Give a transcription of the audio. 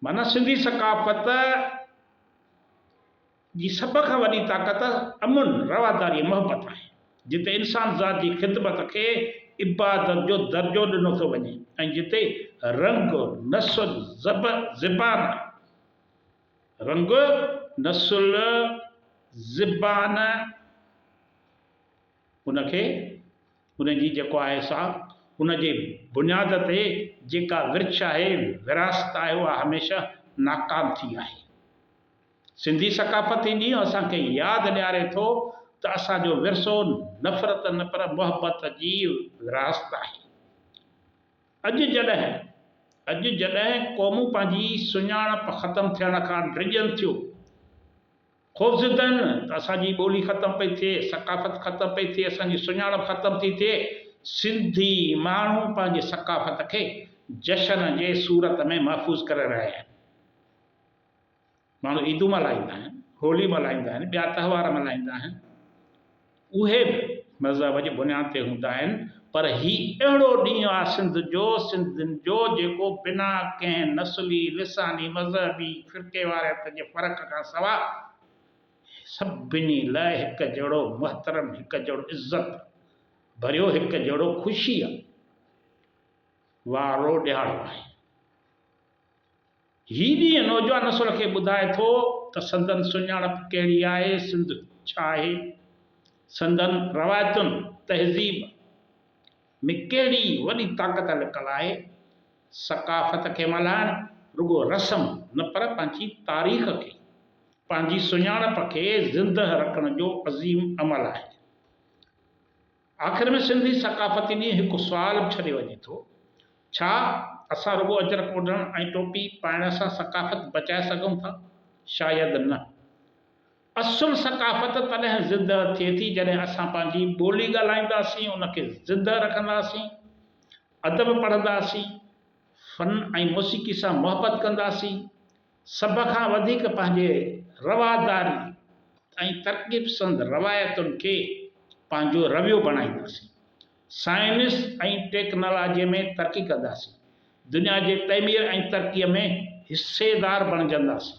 معنيٰ سنڌي ثقافت جي سڀ کان وڏي طاقت امن، رواداري ۽ محبت آهي. جتي انسان ذات جي خدمت کي عبادت جو درجو ڏنو ٿو وڃي ۽ جتي رنگ، نسل، زبان، رنگ، نسل، زبان ان کي. ان جي جيڪو آهي سا ان جي بنياد تي جيڪا ورڇ آهي، وراثت آهي اها هميشه ناڪام ٿي آهي. سنڌي ثقافت هي ڏينهن اسان کي ياد ڏياري ٿو ته اسان جو ورثو نفرت نه پر محبت جي وراثت آهي. اڄ جڏهن اڄ جڏهن قومون پنهنجي سڃاڻپ ختم ٿيڻ کان ڊڄن ٿيون خوفزدن ته اسان جي ٻولي ختم پئي ٿئي، ثقافت ختم پئي ٿئي، اسان جي سڃاڻپ ختم ٿي ٿئي، سنڌي ماڻهو پنهنجي ثقافت کي جشن جي صورت ۾ محفوظ ڪري رهيا آهن. ماڻهو عيدون ملهائيندا آهن، هولي ملهائيندا آهن، ٻيا تهوار ملهائيندا آهن. اهي به مذهب جي بنياد تي هوندا آهن پر هي اهڙو ڏينهن آ سنڌ جو، سنڌين جو جيڪو بنا ڪنهن نسلي، لساني، مذهبي، فرقيواريت جي فرق کان سوا سڀني لاء هڪ جهڙو محترم، هڪ جهڙو عزت ڀريو، هڪ جهڙو خوشيء وارو ڏهاڙو آهي. هي ڏينهن نوجوان نسل کي ٻڌائي ٿو ته سندن سڃاڻپ ڪهڙي آهي، سنڌ ڇا آهي، سندن روايتن، تهذيب ۾ ڪهڙي وڏي طاقت لڪل آهي. ثقافت کي ملهائڻ رڳو رسم نه پر پنهنجي تاريخ کي، پنهنجي سڃاڻپ کي زندهه رکڻ جو عظيم عمل آهي. آخر ۾ سنڌي ثقافتي ڏينهن هڪ سوال به ڇڏي وڃي ٿو، ڇا اسان رڳو اجرڪ اوڍڻ ۽ ٽوپي پائڻ سان ثقافت بچائي سگهون ٿا؟ شايد نه. اصل ثقافت تڏهن زندهه ٿئي ٿي جڏهن اسان پنهنجي ٻولي ڳالهائينداسين، ان کي زندهه رکنداسين، ادب پڙهنداسين، فن ۽ موسيقي سان محبت ڪنداسين، سڀ کان وڌيڪ پنهنجي رواداري ۽ ترقي پسند روايتن کي پنهنجو رويو بڻائينداسين، سائنس ۽ ٽيڪنالاجي ۾ ترقي ڪنداسين، دنيا جي تعمير ۽ ترقي ۾ حصيدار بڻجنداسين.